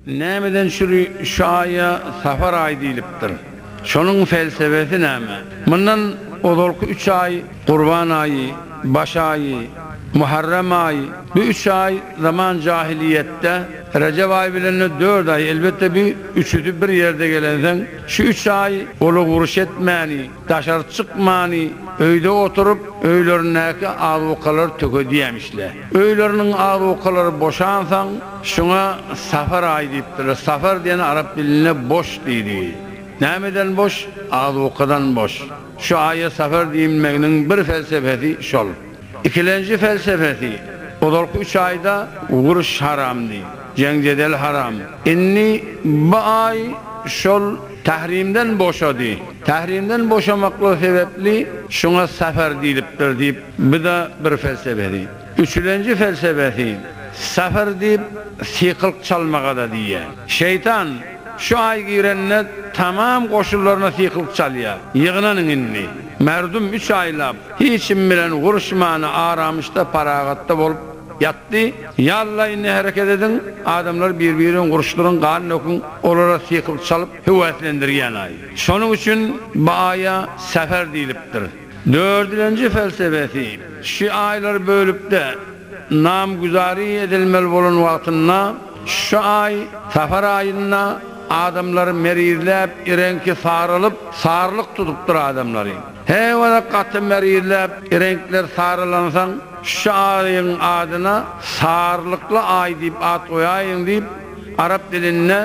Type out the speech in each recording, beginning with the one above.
Nämeden çüri şu aýa Sapar aýy diýlipdir? Şonuň pelsebesi näme? Mundan ozalky üç aý, Gurban aýy, Baş aýy, Muharrem aýy, bu üç aý zaman jahylyýetde, Rejep aýy bilen-de dört aý, elbetde bu üçüsi bir ýerde gelensoň, şu üç aý ola uruş etmäni, Daşary çykmany öýde oturyp öýlerindäki azukalary tökedýämişle. Öýleriniň azukalary boşansaň şuňa safar aýy diýipdirler. Safar diýeni arap dilinde boş diýdi. Nämeden boş? Azukadan boş. Şu aýa safar diýilmeginiň bir felsefesi şol. Ikilenji felsefesi, Ozalky üç aýda uruş haramdy, jeň-jedel haram. Indi bu aý şol tahrimden boşady. Tahrimden boşamaklygy sebäpli şuňa safar diýlipdir diýip, bu-da bir felsefesi. Üçülenji felsefesi, Safar diýip, sykylyk çalmaga-da diýýär. Şeýtan şu aý girende tamam goşunlaryna sykylyk çalýar, Ýygnanyň indi! Merdum üç aýlap Hiç kim bilen uruşman, aramyşda, paragatda bolup ýatdy. Ýallaýynda hereket ediň, adamlary bir-birden uruşdyryň, gan döküň, olara sykylt çalyp, höweslendirýän-aý. Şonuň üçin bu aýa Säfer diýlipdir. Dördülenji felsebesi, Şu aýlary bölüp-de, namgüzari edilmeli bolan wagtynda, şu aý, Säfer aýynda, adamlary merizläp, ireňki saralyp, sarylyk tutupdyr adamlary. Heýwara gaty merizläp, reňkler sarylansoň, şu aýyň adyna Sarylykly aý diýip at goýaýyň diýip, arap dilinde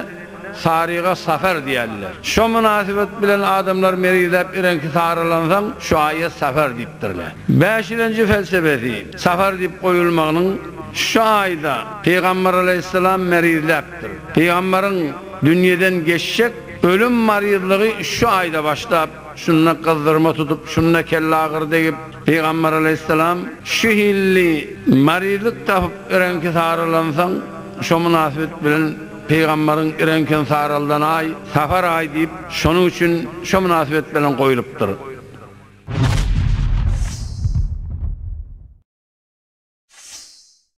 Saryga Safar diýerler. Şo mynasybet bilen adamlar merizläp reňki sarylansoň, şu aýa Safar diýipdirler. Bäşilenji felsebesi, Safar diýip goýulmagynyň, şu aýda Pygamber alaýhyssalam merizläpdir. Pygamberiň dünýeden geçjek ölüm maryzlygy şu aýda başlap, Şunda gyzdyrma tutup, şunda kellagyr degip, pygamber aleýhissalam şu hilli marylyk tapyp reňki saralansoň, şo mynasybet bilen pygamberiň reňkin saraldan aý, safar aý diýip, şonuň üçin şo mynasybet bilen goýlupdyr.